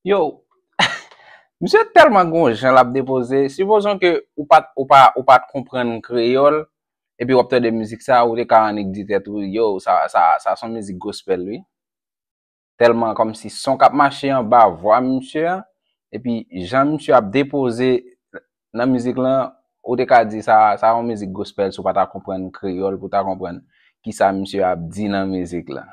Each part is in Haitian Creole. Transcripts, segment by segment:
Yo, misye tèlman gen yon jan lap depoze, sipozon ke ou pat ou pa ou pat konprann kreyòl epi wap tande mizik sa ou te ka annik di tèt ou yo sa sa sa son mizik gospel wi. Tèlman kòmsi son kap mache anba vwa misye a epi jan misye ap depoze nan mizik lan ou te ka di sa sa yon mizik gospel si w pa ta konprann kreyòl pou w ta konprann kisa misye ap di nan mizik lan.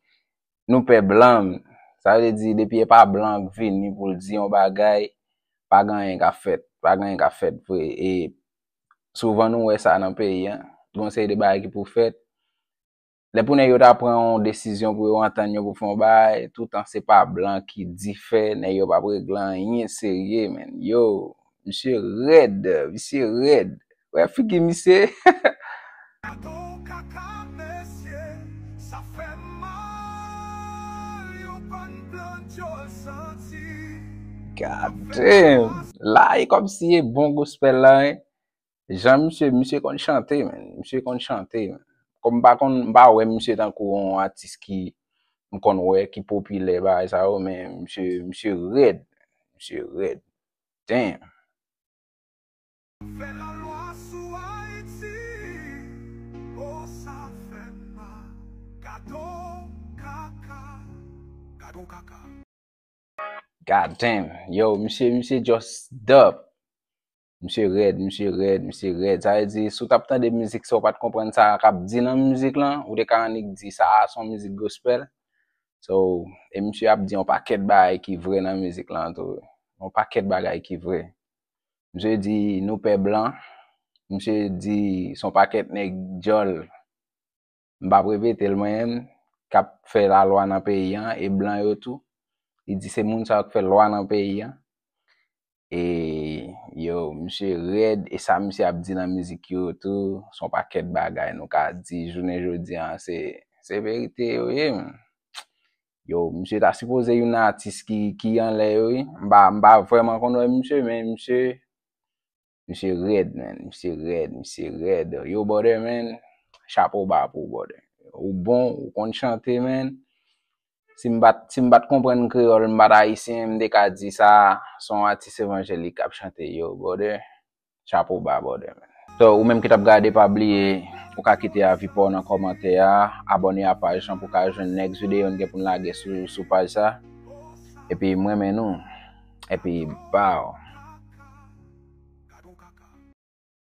Nou pè blan, sa vle di depi e pa blan k vini pou l di yon bagay, pa gen anyen k ap fèt, pa gen anyen k ap fèt vre. E souvan nou wè sa nan peyi an, gen yon seri de bagay ki pou fèt, lè pou nèg yo ta pran yon desizyon pou yo antann yo pou fè yon bagay, toutan se pa blan ki di fè, nèg yo p ap regle anyen serye menn, yo! Misye red, misye red. Wè figi misye. Gadon kaka mesye sa fè mal yon bann blan dyol santi. God damn! La e komsi e bon gospel la hein. Jan misye, misye konn chante man, misye konn chante. Kom m pa konn, m pa wè misye tankou yon atis ki m konn wè ki popilè bagay sa yo men misye, misye red, misye red. damn. Fè la lwa sou Haiti oh sa fè m mal gadon kaka gadon kaka. God damn yo misye misye just dup misye rèd misye rèd misye rèd sa vle di si w tap tande mizik sa w pat konprann sa kap di nan mizik lan ou te ka annik di sa a son mizik gospel So, e misye ap di yon pakèt bagay ki vre nan mizik lan tou. Yon pakèt bagay ki vre. Misye di nou pè blan, misye di son pakèt nèg dyòl, m pa p repete l mwen menm, k ap fè lalwa nan peyi an, e blan yo tou. Li di se moun sa yo k fè lwa nan peyi an. E yo misye rèd e sa misye ap di nan mizik yo tou son pakèt bagay nou ka di jounen jodi an se se verite yo ye m yo misye ta sipoze youn nan atis ki ki anlè yo wi m pa m pa vrèman konn wè misye men misye misye rèd menn misye rèd misye rèd yo brother menn chapo ba pou w brother ou bon ou konn chante menn Si m pat si m pat konprann kreyòl m pat ayisyen m te ka di sa son atis evanjelik kap chante yo brother chapo ba brother man. So ou menm ki tap gade pa bliye ou ka kite avi paw nan kòmantè a, abòne a paj lan pou ka jwenn next video n gen poun lage sou sou paj sa epi m renmen nou epi baww.